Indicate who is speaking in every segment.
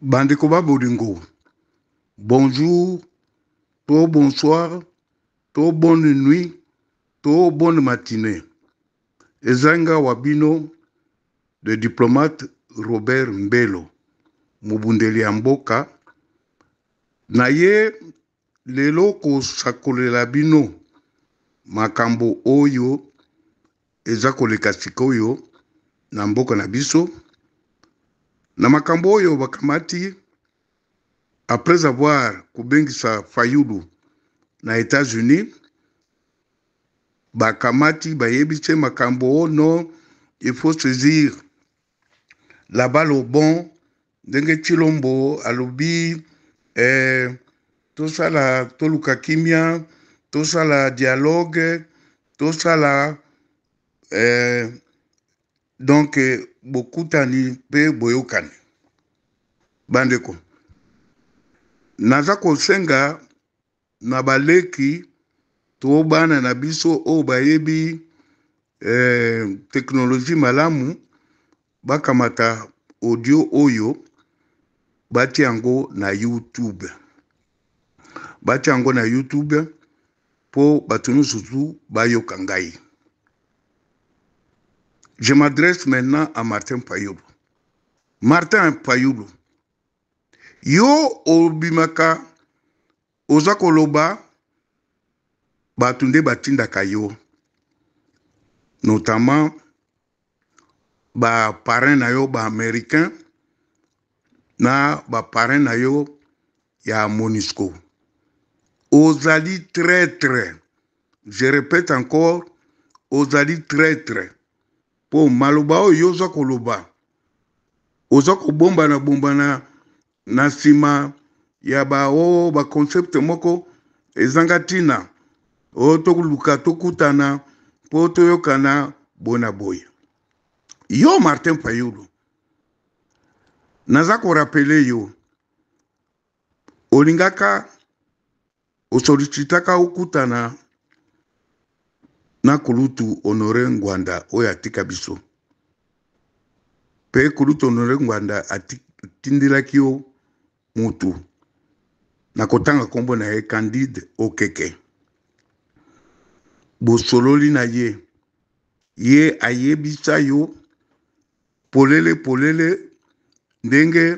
Speaker 1: Bandeko ba bolingo, bonjour to bonsoir to bonne nuit to bonne matinee. Eza nga wa bino le diplomate Robert Mbelo, mobundeli ya mboka. Naye Lelo kosakolela bino makambo oyo eza koleka sikoyo na mboka na biso na makambo oyo bakamati après avoir kobengisa Fayulu na Etats-Unis bakamati bayebisi makambo oh non il faut saisir la balle au bon ndenge Chilombo alobi eh, tosala toluka kimia tosala dialogue tosala eh, donc bokutani mpe boyokani bandeko naza kosenga na baleki to bana na biso oyo bayebi eh, teknoloji malamu bakamata audio oyo batia yango na youtube batia yango na youtube mpo bato nyonso tu bayoka ngai je m'adresse maintenant à martin payulu martin payulu Yo obimaka oza koloba bato nde batindaka yo notamment ba parrain na yo ba américain na ba parrain na yo ya monisco ozali traitre je répète encore ozali traitre mpo maloba oyo yo oza koloba oza kobombana bombana na nsima ya ba o oh, ba concept moko ezanga ntina o oh, toluka tokutana mpo toyokana boye na boye yo martin fayulu naza korapele yo olingaka Osolicitaka okutana na kulutu Honore Ngwanda oyo atika biso mpe kulutu Honore Ngwanda atindelaki yo mutu na kotanga nkombo na ye Candide Okeke. Bosololi na ye, ye ayebisa yo polele polele ndenge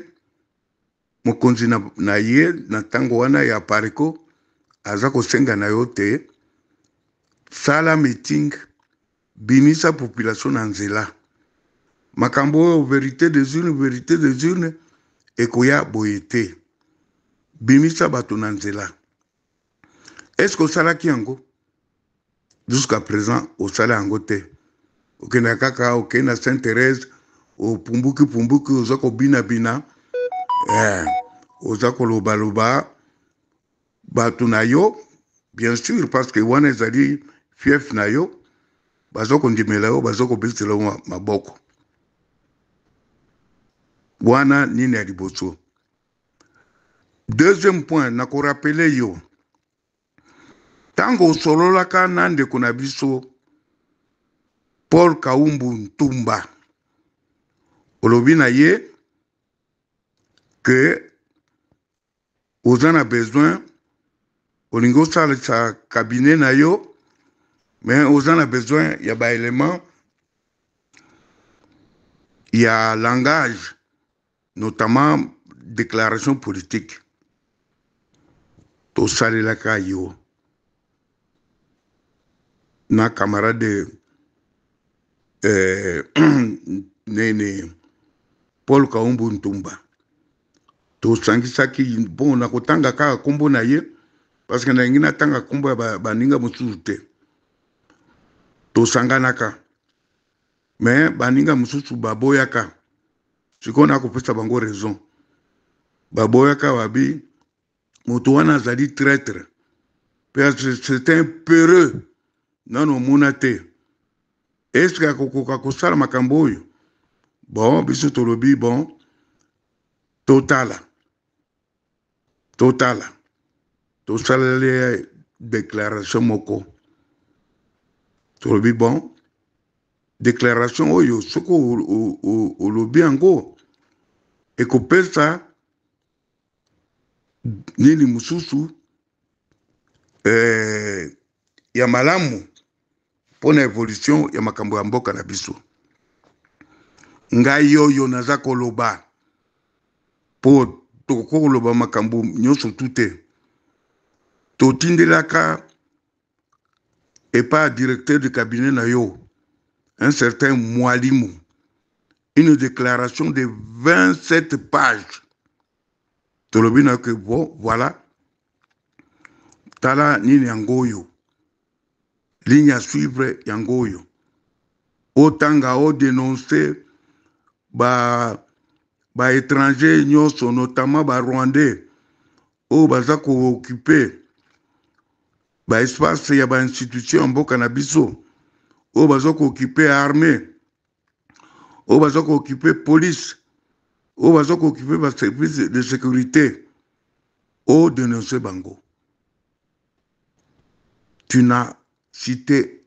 Speaker 1: mokonzi na, na ye na ntango wana ya pariko aza kosenga na yo te sala meeting bimisa population na nzela makambo oyo verite des urnes verite des urnes ekoya boye te bimisa bato na nzela est ce que osalaki yango jusqu'à présent osala yango te okenda kaka okei na saint thérèse opumbuki pumbuki oza kobinabina eh, oza kolobaloba bato na yo bien sûr parce que wana ezali fief na yo baza kondimela yo baza kobetela yo maboko wana nini ya liboso Deuxième point, na ko rappeler yo ntango osololaka na ndeko na biso Paul Kaumbu Ntumba, olobi na ye que oza na besoin olingi osalisa cabinet na yo mais oza na besoin ya baelement ya langage notamment declaration politique tosalelaka yo na camarade eh, nene paul kaumbu ntumba tosangisaki mpo na kotanga kaka nkombo na ye parce que nalingi natanga nkombo ya baninga mosusu te tosanganaka me baninga mosusu baboyaka sikoyo na kopesa bango raison baboyaka babi moto wana azali traitre mpe c'est un peureux nano omona te eske akokoka kosala makambo oyo bon biso tolobi bon totala totala tosaleli ye declaration moko tolobi bon declaration oyo soki olobi yango ekopesa nini mosusu eh, ya malamu mpo na evolution ya makambo ya mboka na biso ngai oyo naza koloba mpo tokoki koloba makambo nyonso tu te totindelaka epa directeur du cabinet na yo un certain mwalimu une déclaration de 27 pages tolobi na yo ke bon voilà tala nini yango oyo ligne ya suivre yango oyo otanga odenonse ba ba étranger nyonso notamment ba rwandais oyo baza kookipe ba espace ya ba institution ya mboka na biso oyo baza kookipe armée oyo baza kookipe police oyo baza kookipe baservice de sécurité odenonse bango tu na cité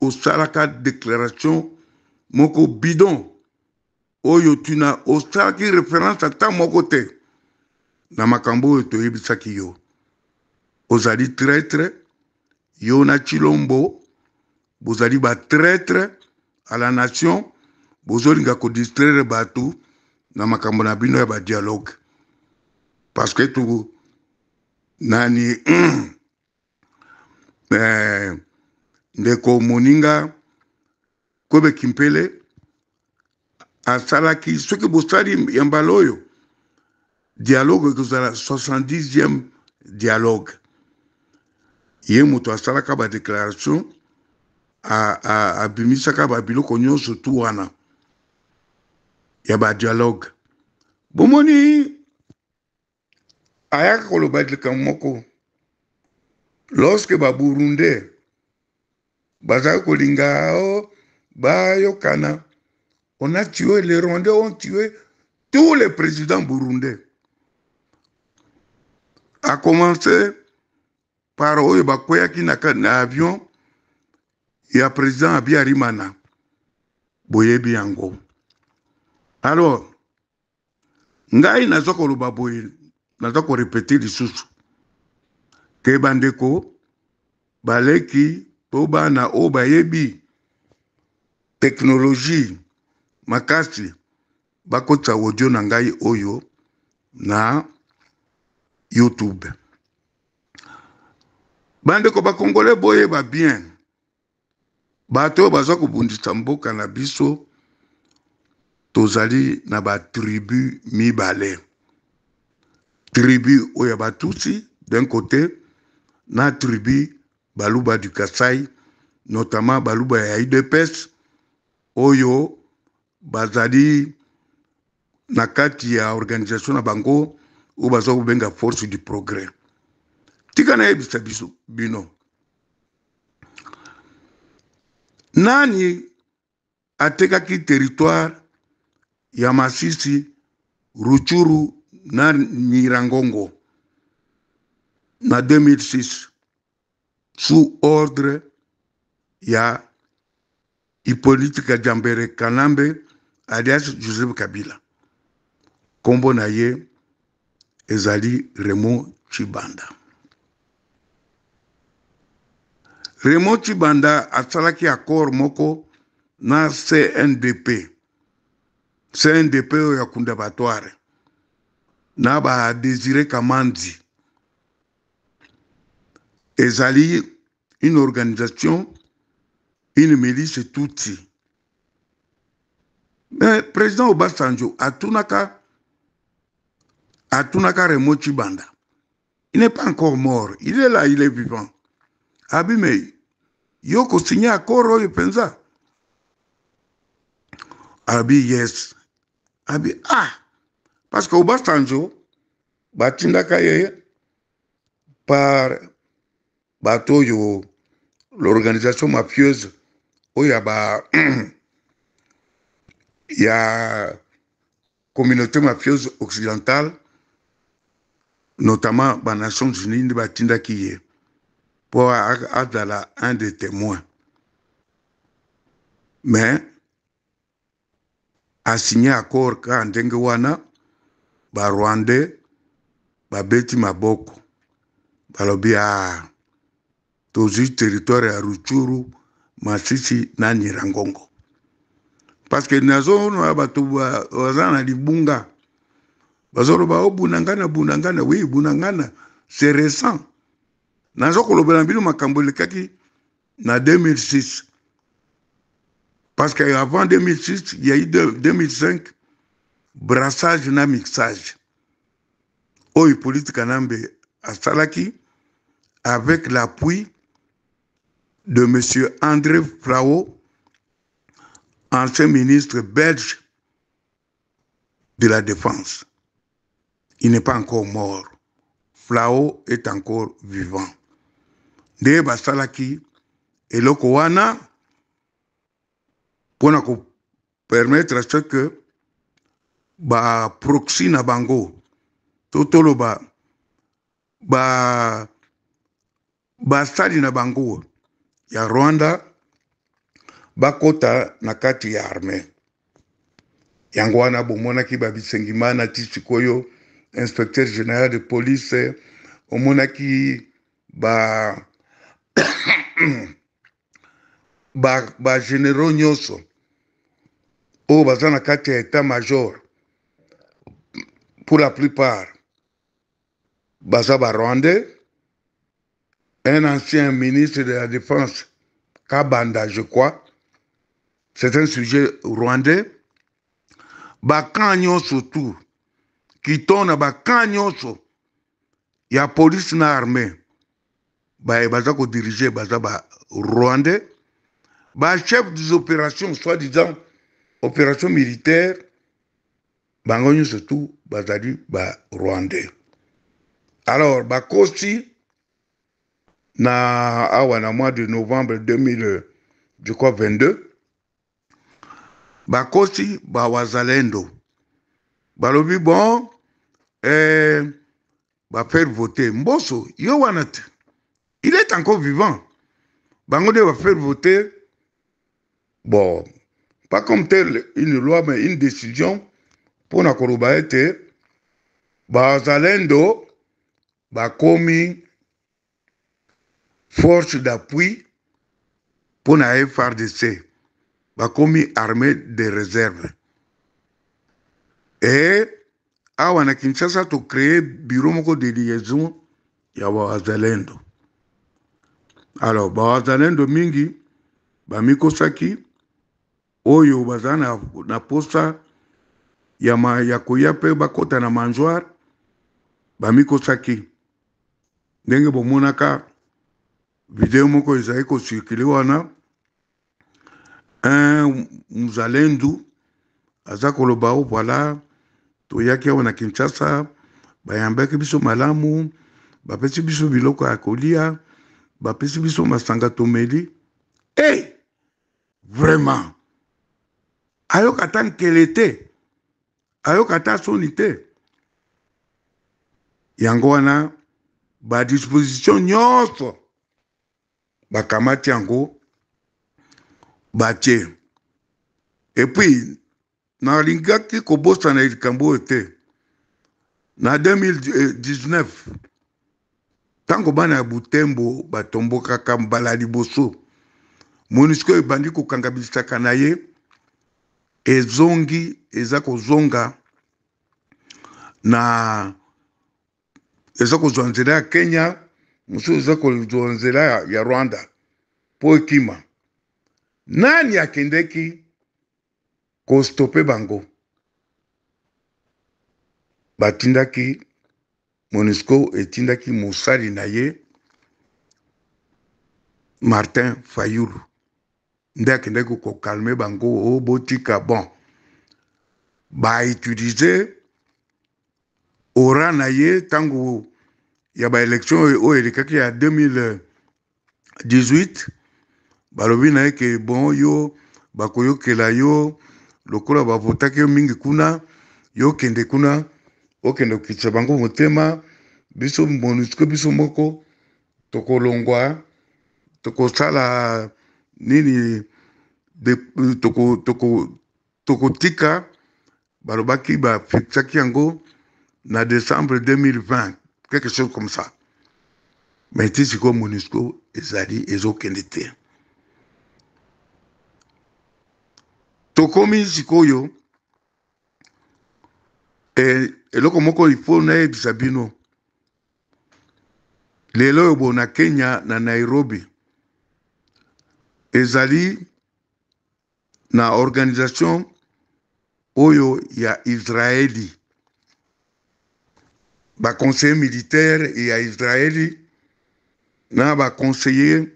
Speaker 1: osalaka déclaration moko bidon oyo tu na osalaki référence ata moko te na makambo oyo toyebisaki yo ozali traitre yo na chilombo bozali ba traitre à la nation bozolinga kodistraire bato na makambo na bino ya badialogue parce que to nani eh, ndeko moninga kobe kimpele asalaki soki bosali ya mbala oyo dialogue ekozala 70e dialogue ye moto asalaka badéclaration abimisaka babiloko nyonso tu wana ya badialogue bomoni ayaka koloba likambo moko lorsque ba burundais bazali kolinga o oh, bayokana on a tué les rwandais ont tué tous les présidents burundais a commencé par oyo bakweyaki na, na avion ya président abiarimana boyebi yango alors ngai naza koloba boye naza korepete lisusu ke bandeko baleki to bana oyo bayebi teknoloji makasi bakotisa audio na ngai oyo na youtube bandeko bakongole boyeba bien bato oyo baza kobundisa mboka na biso tozali na batribu mibale tribu oyo ya batusi d'un côté na tribu baluba du kasai notamment baluba ya udps oyo bazali na kati ya organisation na bango oyo baza kobenga force du progrès tika nayebisa biso bino nani atekaki territoire ya masisi ruchuru na nyirangongo na 2006 sous ordre ya Hyppolite Kadiambere Kanambe alias Joseph Kabila, kombo na ye ezali Raymond Tshibanda. Raymond Tshibanda asalaki accord moko na CNDP, CNDP oyo ya Kunda Batware na ba Desire Kamanzi ezali une organisation une milice tutsi mais président obasanjo atunaka atunaka remo chibanda il n'est pas encore mort il est là il est vivant abi mais yo kosigne accord oyo mpenza abi yes abi ah parce que obasanjo batindaka ye par bato oyo l'organisation mafieuse oyo ya ba ya communauté mafieuse occidentale notamment ba nations unies nde batindaki ye mpo azala un des témoins mais a signe accord kaka ndenge wana ba rwandais babeti maboko balobi a ah, tozwi territoire ya ruchuru masisi na nyirangongo parce que nazomona bato baza na libunga bazoloba o oh, bunangana bunangana wi bunangana c'est récent naza kolobela bino makambo elekaki na 2006 parce que avant 2006 il y a eu 2005 brassage na mixage oyo hippolyte kanambe asalaki avec l'appui de M. André Frao, ancien ministre belge de la Défense. Il n'est pas encore mort. Flao est encore vivant. Nde basalaki eloko wana mpo na kopermettre ce que baproxy na bango to toloba ba Basali na bango ya Rwanda bakota na kati ya armee. Yango wana bomonaki ba Bisengimana ti sikoyo inspecteur general de police, omonaki ba ba, ba generaux nyonso oyo baza na kati ya etat major pour la plupart baza ba rwandais un ancien ministre de la défense kabanda je crois c'est un sujet rwandais bakan nyonso tout kiton na bakan nyonso ya police na armée baye baza kodirige baza ba rwandais ba chef des opérations soit disant opération militaire bango nyonso tu bazali ba rwandais alors bakosi na awa na mois de novembre 2000 je crois 22 bakosi bawazalendo balobi bon eh, ba faire voter mboso yo wana te il est encore vivant bango nde ba faire voter bon pas comme telle une loi mais une décision mpo na koloba ete bazalendo bakomi force d'appui mpo na FRDC bakomi armee de reserve e awa na Kinshasa to créer bureau moko de liaison ya bawazalendo alors bawazalendo mingi bamikosaki oyo baza na, na posa ya, ma, ya koya mpe bakota na mangeoire bamikosaki ndenge bomonaka video moko ezali kocirkule wana un muzalendu aza koloba o oh, voilà toyaki awa na kinshasa bayambaki biso malamu bapesi biso biloko ya kolia bapesi biso masanga tomeli e hey! Vraiment. Ayoka ata nkele te. Ayoka ata soni te. Yango wana ba disposition nyonso bakamati yango batie epuis nalingaki kobosana likambo oyo te na 2019 ntango bana ya butembo batombokaka mbala liboso monisco ebandi kokanga bisaka na ye ezongi eza kozonga na eza kozwa nzela ya kenya mosusu eza kozwa nzela ya rwanda mpo ekima nani akendeki ko stopper bango batindaki Monusco etindaki mosali na ye Martin Fayulu nde akendaki ko calmer bango o oh, botika bon ba utiliser ora na ye ntango ya baelektio oyo elekaki ya 2000 18 balobi na ye ke bon yo bakoyokela yo lokola bavotaki yo mingi kuna yo kende kuna okende kokitisa bango motema biso monusco biso moko tokolongwa tokosala nini tokotika toko, toko Balobaki ba fixaki yango na decembre 2020 quelque chose comme ça mais ti sikoyo monusco ezali ezokende te tokomi sikoyo e, eloko moko ifo nayebisa bino lelo oyo bo na kenya na nairobi ezali na organisation oyo ya israeli baconseiller militaire ya israeli na baconseiller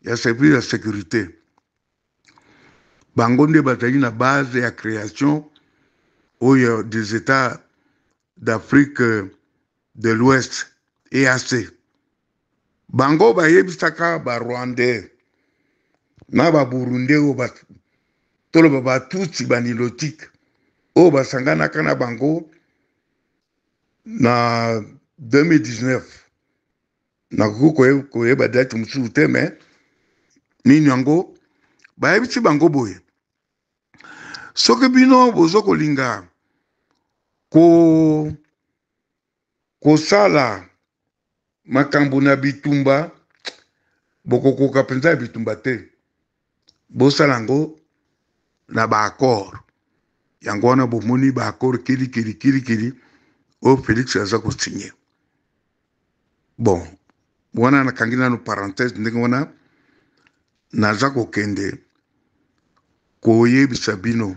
Speaker 1: ya service ya sécurité bango nde bazali na base ya création oyo des états d'afrique de l'ouest eac Bango bayebisaka ba Rwandais na ba Burundais oyo ba toloba ba Tutsi ba Nilotique oyo basanganaka na bango na 2019 nakoki koyeba date mosusu te me nini yango bayebisi bango boye soki bino bozo kolinga ko Kosala makambo na bitumba, bokokoka mpenza ya bitumba te. Bosala yango na ba accord. Yango wana bomoni ba accord kilikili kilikili oyo Felix aza kosinye. Bon, wana nakangi nano parenthèse ndenge wana naza kokende koyebisa bino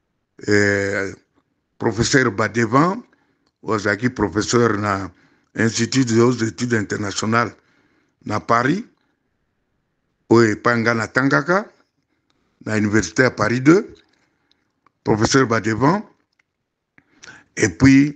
Speaker 1: eh, professeur Badevant ozalaki professeur na institut des hautes études internationales na paris oyo epai ngai natangaka na université ya paris 2 professeur badevant epuis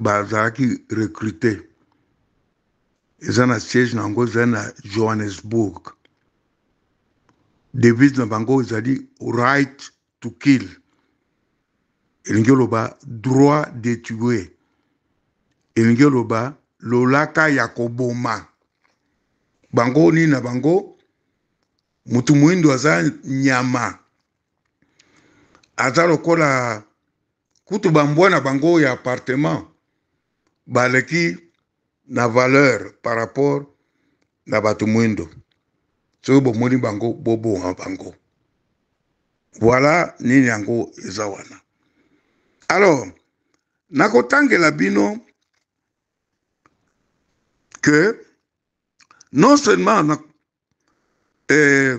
Speaker 1: bazalaki ba recrute eza na siège na yango ezali na johannesburg devise na bango ezali right to kill elingi oloba droit de tue elingi oloba lolaka ya koboma bango nini na bango motu moindo aza nyama aza lokola kutu ba mbwa na bango ya appartement baleki na valeur par rapport na bato mwindo soki bomoni bango boboma bango voilà nini yango eza wana alors nakotangela bino que non seulement na, eh,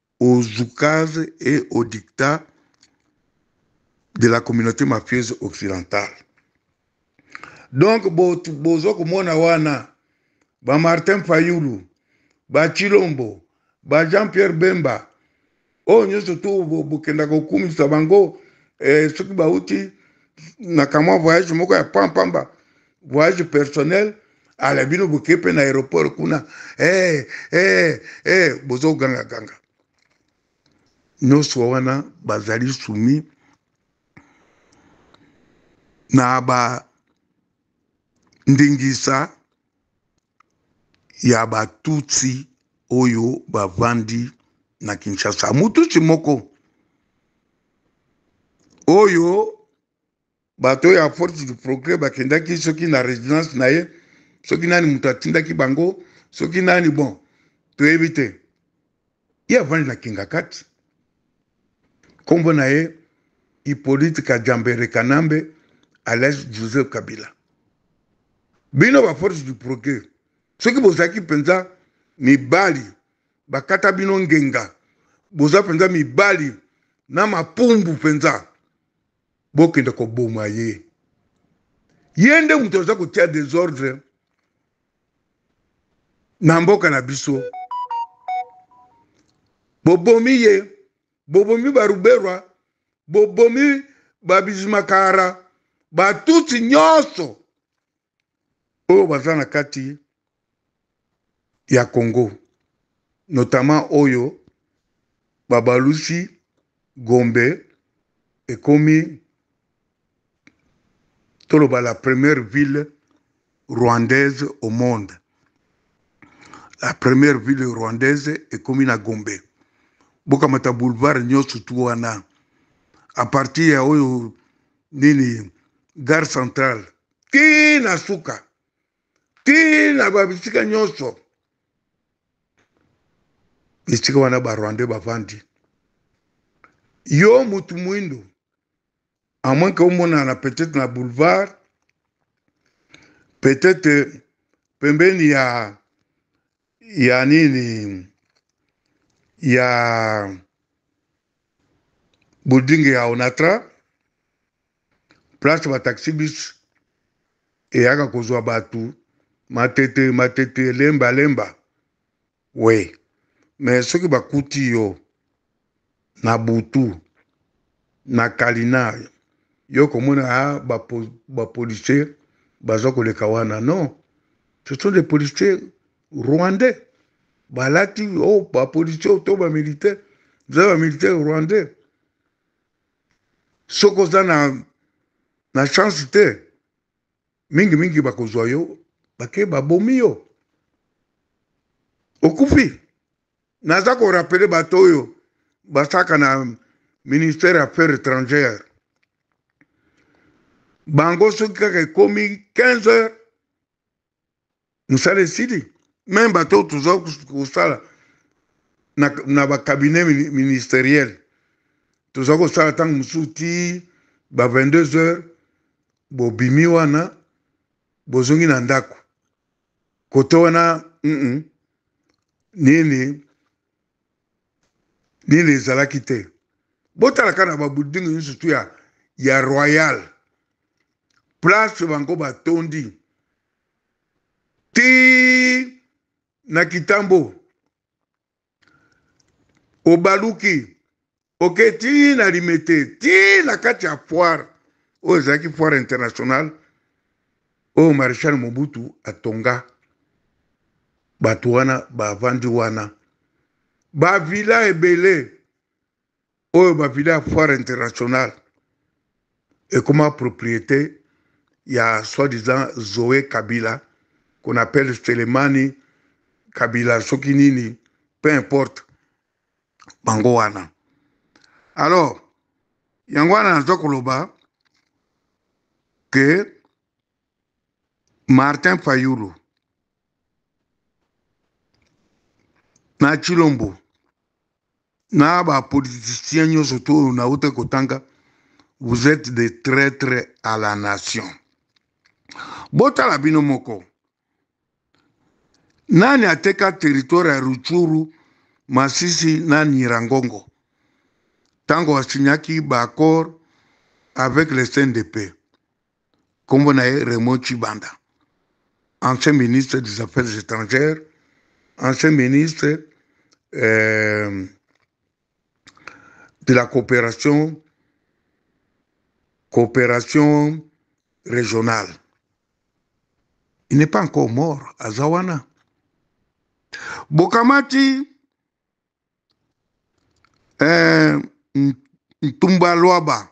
Speaker 1: au zoukaz et au dictat de la communauté mafieuse occidentale. Donc bozo komona wana ba Martin Fayulu, ba Chilombo, ba Jean-Pierre Bemba oyo nyonso tu bokenda kokumisa bango eh, soki bauti na kamwa voyage moko ya pampamba voyage personnel ala bino boke mpe na aéroport kuna hey, eh, hey, eh, hey, eh, bozogangaganga nyonso wana bazali sumi na ba ndingisa ya batutsi oyo bavandi na kinshasa motutsi moko oyo bato ya force du progrès bakendaki soki na residence na ye soki nani moto atindaki bango soki nani bon toyebi te ye avandi na kingakati nkombo na ye hippolyte kajambere kanambe alias joseph kabila bino ba force du progrès soki bozalaki mpenza mibali bakata bino ngenga boza mpenza mibali na mapumbu mpenza bokende koboma ye ye nde moto aza kotia desordre na mboka na biso bobomi ye bobomi baruberwa bobomi babizimakara batutsi nyonso oyo baza na kati ya Congo notamment oyo babalusi Gombe ekomi toloba la première ville rwandaise au monde la première ville rwandaise ekomi na Gombe bokamata boulevard nyonso tu wana a partir ya oyo nini gare centrale tii na suka tii na babisika nyonso esika wana barwandais bavandi yo mutu mwindo amwanke omonana peut-être na boulevard peut-être pembeni ya ya nini ya building ya onatra place bataxi bis eyaka kozwa bato matete matete elemba lemba we me soki bakuti yo na butu na kalinari yo komona a ah, bapolicier baza koleka wana non ce sont des policiers rwandais balati o oh, bapolicier to bamilitaire eza bamilitaire rwandais soki oza na, na chance te mingi mingi bakozwa yo bake babomi yo okufi naza korapele bato oyo basaka na ministère ya affaires étrangères bango soki kaka ekomi 15 heures mosala esili meme bato oyo toza kosala na, na bacabinet ministeriel toza kosala ntango mosusu ti ba 22 heures bobimi wana bozongi na ndako kote wana mm -mm. nini nini ezalaki te botalaka na babuldingi nyonso tu ya, ya royal place bango batondi ti na kitambo obaluki oke ti na limete ti na kati ya foire oyo ezalaki foire internationale oyo marechal mobutu atonga bato wana bavandi wana bavila ebele oyo bavile ya foire internationale ekoma propriété ya soi-disant zoe kabila qu'on appelle selemani kabila soki nini peu importe bango wana alors yango wana naza koloba ke martin fayulu na chilombo na ba politiciens nyonso to oyo nawuta kotanga vous êtes des traitres à la nation botala bino moko nani ateka territoire ya ruchuru masisi na nirangongo ntango asignaki baaccord avec le cndp nkombo na ye Raymond Tshibanda, ancien ministre des Affaires étrangères, ancien ministre euh, de la coopération, coopération régionale. Il n'est pas encore mort, Azawana. Bokamati, euh, Ntumba Luaba,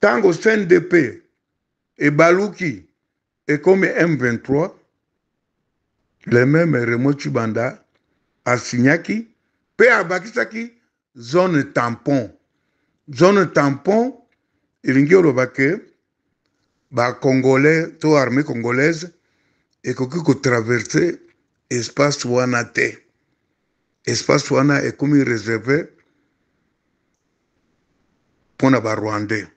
Speaker 1: tango CNDP ebaluki ekomi M23 le meme Remo Tshibanda asignaki pe abakisaki zone tampon zone tampon elingi oloba ke ba congolais to armee congolaise ekoki ko traverse espace wana te espace wana ekomi reserve mpo na ba rwandais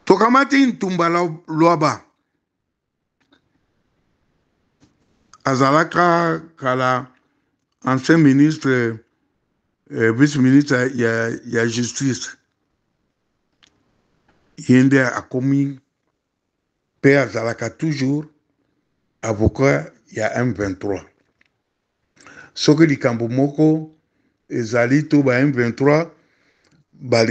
Speaker 1: tokamati ntumba lwaba azalaka kala ancien ministre eh, vice ministre ya, ya justice ye nde akomi mpe azalaka toujours avocat ya M23. Soki likambo moko ezali to ba M23 balingi